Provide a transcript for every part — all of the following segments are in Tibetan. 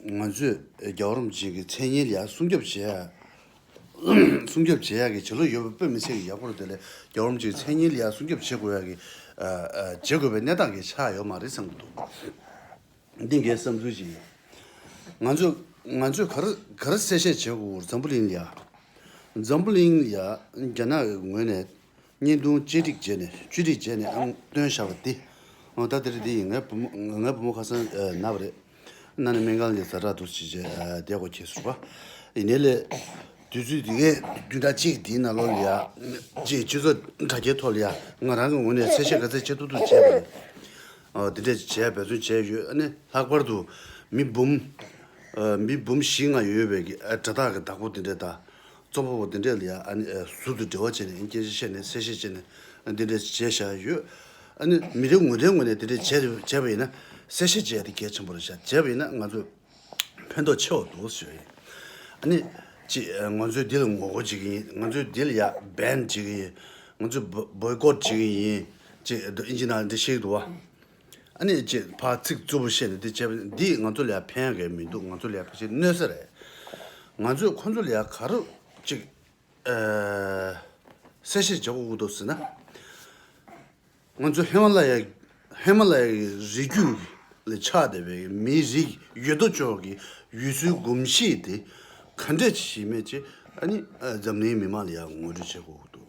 ང་ཚོས་རྒྱ་རོམ་ཅན་གྱི་མཚན་སྙན་ལ་སྲུང་སྐྱོབ་བྱེད་སྲུང་སྐྱོབ་བྱེད་ཡག་གི་བྱེད་ལོ་ཡོད་པའི་བོད་མི་ཚེ་གི་ཡག་པོར་དེ་ལས་རྒྱ་རོམ་ཅན་གྱི་མཚན་སྙན་ལ་སྲུང་སྐྱོབ་བྱེད་དགོས་ཡག་གི་བྱེད་དགོས་པའི་གནས་སྟངས་ཀྱི་ཆ་ཡོད་མ་རེད་བསམ་གྱི་འདུག་འདི་འགའི་བསམ་ཚུལ་ཅིག་ཡིན། ང་ང་ཚོས་ག་རེ་ག་རེ་གསལ་བཤད་བྱེད་དགོས་འཛམ་བུ་གླིང་ལ་འཛམ་བུ་གླིང་ལ་རྒྱ་ནག་གི་ངོས་ནས་བརྙན་ཐུང་བཅས་སྒྲིག་བྱས་ནས་བཅོས་སྒྲིག་བྱས་ནས་ཨང་སྟོན་བཞག་པ་དེ། ད་དེར་དེ་ཡིན་ངའི་བུ་མོ་ངའི་བུ་མོ་ཁ་སང་ན་བ་རེད། ན་ནས་སྨན་ཁང་ལས་ཟ་གྲྭ་འདུག་ཅེས་བྱས་བསྡད་གོ་ཁྱེད་ཟུར་པ་ཡིན་ནའི་ལས། དུས་ཚོད་འདི་གའི་བདུན་ཕྲག་གཅིག་འདིའི་ནང་ལོ་ལིའ་ཅེས་སྤྱི་ཚོགས་དྲ་རྒྱའི་ཐོག་ལིའ་ང་རང་གི་ངོས་ནས་གསལ་བཤད་ག་ཚད་བྱེད་ཐུབ་ཐུབ་བྱས་པ་རེད། འདི་འདྲས་བྱས་འབད་བརྩོན་བྱས་ཡོད་ཨ་ནི་ལྷག་པར་དུ་མི་འབུམ། མི་འབུམ་བཞི་ལྔ་ཡོད་པའི་དགྲ་དག་གི་བདག་པོ་འདི་འདྲས་ད་གཙོ་བོ་འདི་འདྲས་ལ་ཡང་ཨ་ནི་ཟུར་དུ་འབྲེལ་བ་བྱས་ནས་ཨ་ནི་སྐྱེ་མཆེད་བཤད་ནས་གསལ་བཤད་བྱས་ནས་འདི་འདྲས་བྱས་བཞག་ཡོད། ཨ་ནི་མི་རེ་ངོས་རེའི་ངོས་ནས་འདི་འདྲས་བྱས་རེ་བྱས་པ་ཡིན་ན་གསལ་བཤད་བྱས་ཡ་དེ་གལ་ཆེན་པོ་རེད་བཞག་བྱས་པ་ཡིན་ན་ང་ཚོས་ཕན་ཐོགས་ཆེ་བ་འདུག་ཟེར་བ་ཡིན། ཨ་ནི་གཅིག་ང་ཚོས་འདི་ལ་ངོ་རྒོལ་བྱེད་ཀྱི་ཡིན་ང་ཚོས་འདི་ལ་ཡ Ban བྱེད་ཀྱི་ཡིན་ང་ཚོས Boycott བྱེད་ཀྱི་ཡིན་ཅེས་འདི་ཨིན་ཇི་ནང་འདི་ཤེས་ཀྱི་འདུག་བ། ཨ་ནེ་ཅེས་ཕ་ཚིག་རྩུབ་པོ་བཤད་ནས་འདི་བྱས་པ་འདིས་ང་ཚོ་ལ་ཕན་གི་མི་འདུག་ང་ཚོ་ལ་ཕལ་ཆེར་གནོད་ས་རེད། ང་ཚོས་ཁོ་ཚོ་ལ་ག་རུ་ཅིག་གསལ་བཤད་བྱེད་དགོས་འདུག་ཟེར་ན། ང་ཚོ་ཧི་མ་ལ་ཡ་ཧི་མ་ལ་ཡ་གི་རི་རྒྱུད་ལས་ཆགས་བསྡད་པའི་མིའི་རིགས་ཡོད་དོ་ཅོག་གི་ཡུལ་སྲོལ་གོམས་གཤིས་དེ་ག་འདྲ་ཞིག་མེད་ཅེས་ཨ་ནེས་འཛམ་གླིང་མི་མང་ལ་ངོ་སྤྲོད་བྱེད་དགོས་འདུག།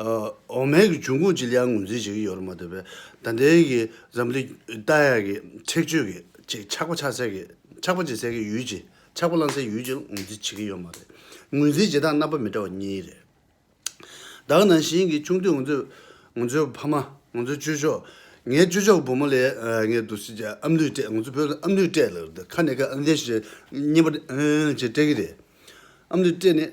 འོ་མའི་གི་འབྱུང་ཁུངས་ཅི་ལ་ཡང་ངོས་འཛིན་བྱེད་ཀྱི་ཡོད་རེད་མ་འདོད་པས་ད་ལྟའི་གི་འཛམ་གླིང་ཏ་ཡ་གི་ཁྲེགས་ཆོད་གི་ཆེས་ཆགས་པ་ཆགས་སའི་གི་ཆགས་པ་བྱེད་སའི་གི་ཡུལ་གྱི་ཆགས་པ་བསླང་སའི་ཡུལ་གྱི་ངོས་འཛིན་བྱེད་ཀྱི་ཡོད་མ་རེད། ངོས་འཛིན་བྱེད་སྟངས་རྣམ་པ་མི་འདྲ་བ་གཉིས་རེད། བདག་ནང་བཞིན་གི་ཆུང་དུས་ང་ཚོས་ང་ཚོའི་ཕ་མ་ང་ཚོའི་སྤྱོད་ཕྱོགས་ངའི་སྤྱོད་ཕྱོགས་བུ་མོ་ལས་ངའི་འདུ་ཤེས་ཀྱི་ཨམ་ལུས་སྤྲད་ང་ཚོ་བོད་ལ་ཨམ་ལུས་སྤྲད་ལ་ཁ་ནས་ཁ་ཨང་དེ་བཞིན་བསྙེན་པ་བཞིན་སྤྲད་ཀྱི་རེད། ཨམ་ལུས་སྤྲད་ནས།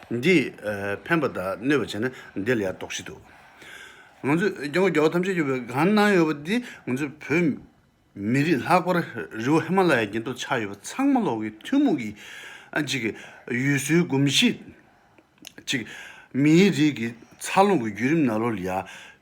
འདིས་ཕན་པ་དག་གནོད་པར་བྱེད་ན་འདི་ལ་ཡང་དོགས་གཞི་འདུག། ང་ཚོས་རྒྱ་མགོ་རྒྱ་བོ་ཐམས་ཅད་གཡོགས་པའི་གང་གནང་ཡོད་པ་འདི་ང་ཚོའི་བོད་མི་རིགས་ལྷག་པར་རི་བོ་ཧི་མ་ལ་ཡའི་རྒྱན་དུ་ཆགས་ཡོད་པ་ཚང་མ་ལོག་གི་ཐུན་མོང་གི་གཅིག་གི་ཡུལ་སྲོལ་གོམས་གཤིས་གཅིག་མིའི་རིགས་ཀྱི་འཚར་ལོངས་ཀྱི་བརྒྱུད་རིམ་ནཱ་ལོ་ལི་ཡ